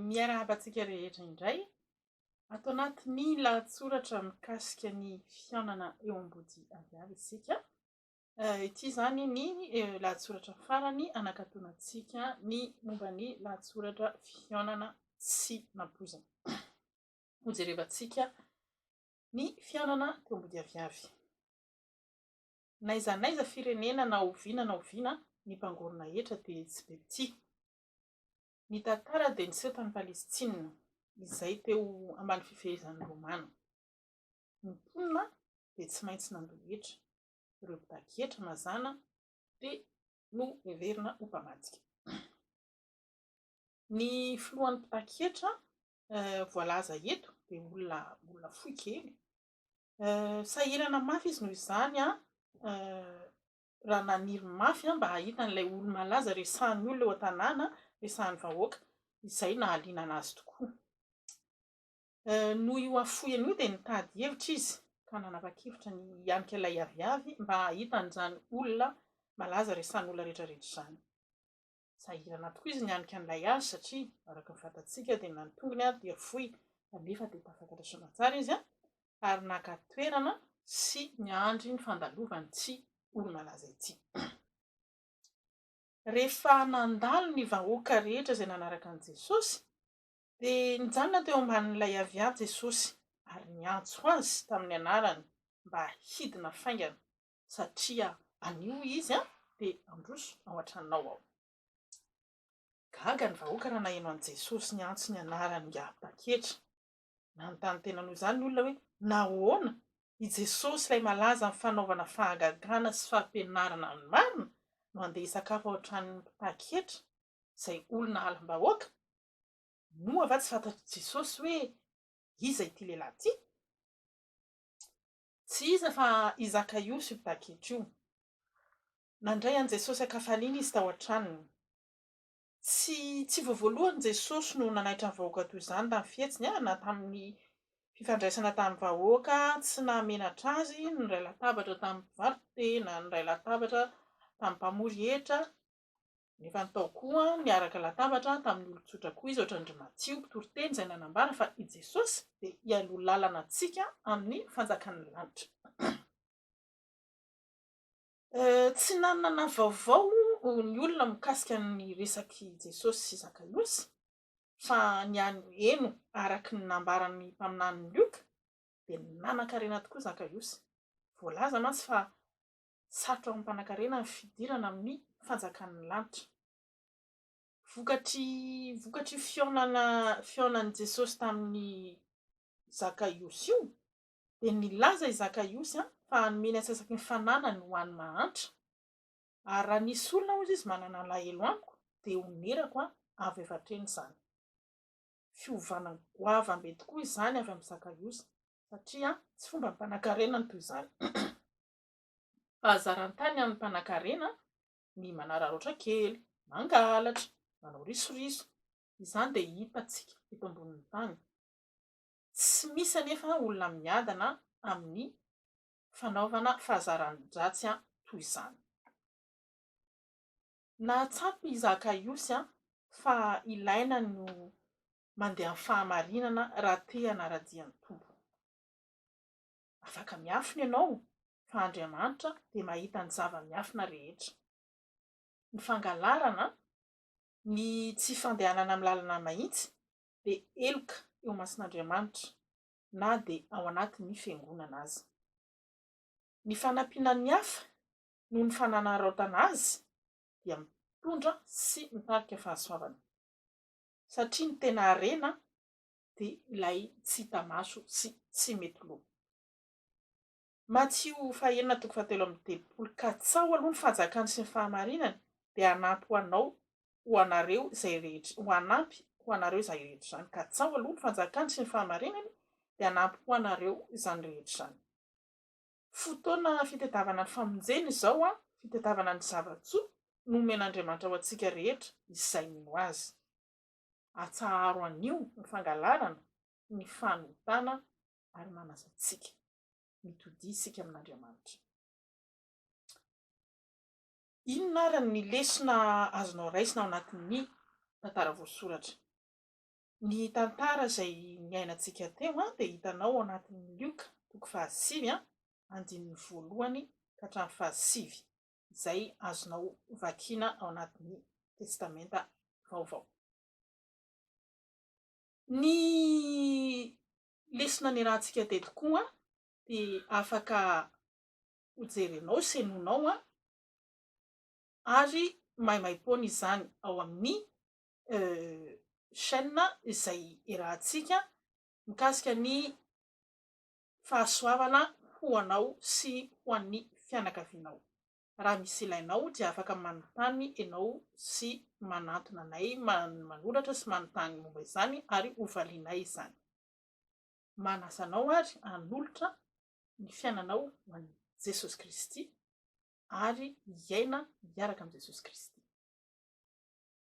Miarahaba antsika rehetra indray ato anatin'ny lahatsoratra mikasika ny fihaonana eo ambody aviavy isika. Eh, ity izany ny eh, lahatsoratra farany anakatonantsika ny momba ny lahatsoratra fihaonana sy nampoizana. Hojerevantsika ny fihaonana teo ambody aviavy. N'aiza n'aiza firenena na oviana na oviana ny mpangorona hetra dia tsy be mpitia. Ny tantara dia niseho tany Palestina izay teo ambany fifehezan'ny Romana. Ny mponina dia tsy maintsy nandoa hetra. Ireo mpitaky hetra mazàna dia noheverina ho mpamadika. Ny filohan'ny mpitaky hetra voalaza eto dia olona olona fohy kely Sahirana mafy izy noho izany raha naniry mafy mba hahita an'ilay olo-malaza resahin'ny olona eo an-tanàna, resahin'ny vahoaka. Izay nahaliana anazy tokoa. Noho io hafoheny io dia nitady hevitra izy ka nanapa-kevitra ny hianika ilay aviavy mba hahita an'izany olona malaza resahin'ny olona rehetrarehetra izany. Sahirana tokoa izy nianika an'ilay azy satria araka ny fantatsika dia na ny tongony ary dia foy kanefa dia tafakatra soamatsara izy ary naka toerana sy niandry ny fandalovan'ity olo-malaza ity. Rehefa nandalo ny vahoaka rehetra izay nanaraka an'i Jesosy dia nijanona teo ambanin'ilay avià Jesosy ary niantso azy tamin'ny anarany mba hidina faingana satria anio izy dia handroso ao an-tranonao ao. Gaga ny vahoaka raha naheno an'i Jesosy niantso ny anarany ingahy Baketra. Nanontany tena noho izany ny olona hoe, Nahoana? I Jesosy ilay malaza amin'ny fanaovana fahagagana sy fampianarana amin'ny marina no handeha hisakafo ao an-tranon'ny mpitaky hetra, izay olona halam-bahoaka? Moa va tsy fantatr'i Jesosy hoe iza ity lehilahy ity? Tsy iza fa i Zakaiosy io baketra io. Nandray an'i Jesosy an-kafaliana izy tao an-tranony. Tsy tsy vao voalohany Jesosy no nanaitra ny vahoaka toy izany tamin'ny fihetsiny, na tamin'ny fifandraisana tamin'ny vahoaka tsy nahamenatra azy, niray latabatra tamin'ny mpivarotra, na niray latabatra tamin'ny mpamory hetra, Nefa ny tao koa niaraka latabatra tamin'ny olon-tsotra koa izy, hoatran-dry Matio mpitoriteny izay nanambara fa i Jesosy dia hialoha lalana antsika amin'ny fanjakan'ny lanitra. Tsy nanana vaovao ny olona mikasika ny resak'i Jesosy sy Zakaiosy, fa ny an'i Heno araka ny nambaran'ny mpaminany Lioka dia nanan-karena tokoa Zakaiosy. Voalaza mantsy fa Sarotra ho an'ny mpanankarena ny fidirana amin'ny fanjakan'ny lanitra. Vokatry vokatry fihaonana fihaonan'i Jesosy tamin'i Zakaiosy io dia nilaza i Zakaiosy fa hanome ny antsasaky ny fananany ho an'ny mahantra. Ary raha nisy olona hozy izy manana alahelo amiko dia honerako avy avy hatreny izany. Fiovana goavambe tokoa izany avy amin'i Zakaiosy satria tsy fomban'ny mpanankarena ny toy izany. Fahazaran-tany an'ny mpanankarena ny manararaotra kely, mangalatra, manao risoriso. Izany dia hitantsika eto ambonin'ny tany. Tsy misy anefa olona miadana amin'ny fanaovana fahazaran-dratsy toy izany. Nahatsapa i Zakaiosy fa ilaina ny mandeha amin'ny fahamarinana raha te hanara-dia ny Tompo. Afaka miafina ianao fa Andriamanitra dia mahita ny zava-miafina rehetra. Ny fangalarana, ny tsy fandehanana amin'ny lalana mahitsy dia heloka eo imason'Andriamanitra na dia ao anatin'ny fiangonana aza. Ny fanampiana ny hafa noho ny fananaraotana azy dia mitondra sy mitarika fahasoavana. Satria ny tena harena dia ilay tsy hita maso sy tsy mety loha. Matio fahenina toko fahatelo amby telopolo Ka tsaho aloha ny fanjakany sy ny fahamarinany, dia hanampy ho anao ho anareo izay rehetra, ho hanampy ho anareo izany rehetra izany, ka tsaho aloha ny fanjakany sy ny fahamarinany, dia hanampy ho anareo izany rehetra izany. Fotoana fitadiavana ny famonjena izao an, fitadiavana ny zava-tsoa nomen'Andriamanitra ho antsika rehetra izay mino Azy. Atsaharo anio ny fangalarana, ny fanotana ary manasa antsika mitodiha isika amin'Andriamanitra. Inona ary ny lesona azonao raisina ao anatin'ny tantara voasoratra? Ny tantara izay niainantsika teo dia hitanao ao anatin'ny Lioka toko fahasivy andininy voalohany ka hatramin'ny fahasivy. izay azonao vakiana ao anatin'ny Testamenta Vaovao. Ny lesona niarahantsika teto koa dia afaka hojerenao sy henoinao ary maimaimpoana izany ao amin'ny chaîne izay iarahantsika mikasika ny Fahasoavana ho anao sy ho an'ny fianakavianao. Raha misy ilainao dia afaka manontany ianao sy manantona anay manoratra sy manontany momba izany ary hovalianay izany. Manasa anao ary hanolotra ny fiainanao ho an'i Jesosy Kristy ary hiaina miaraka amin'i Jesosy Kristy.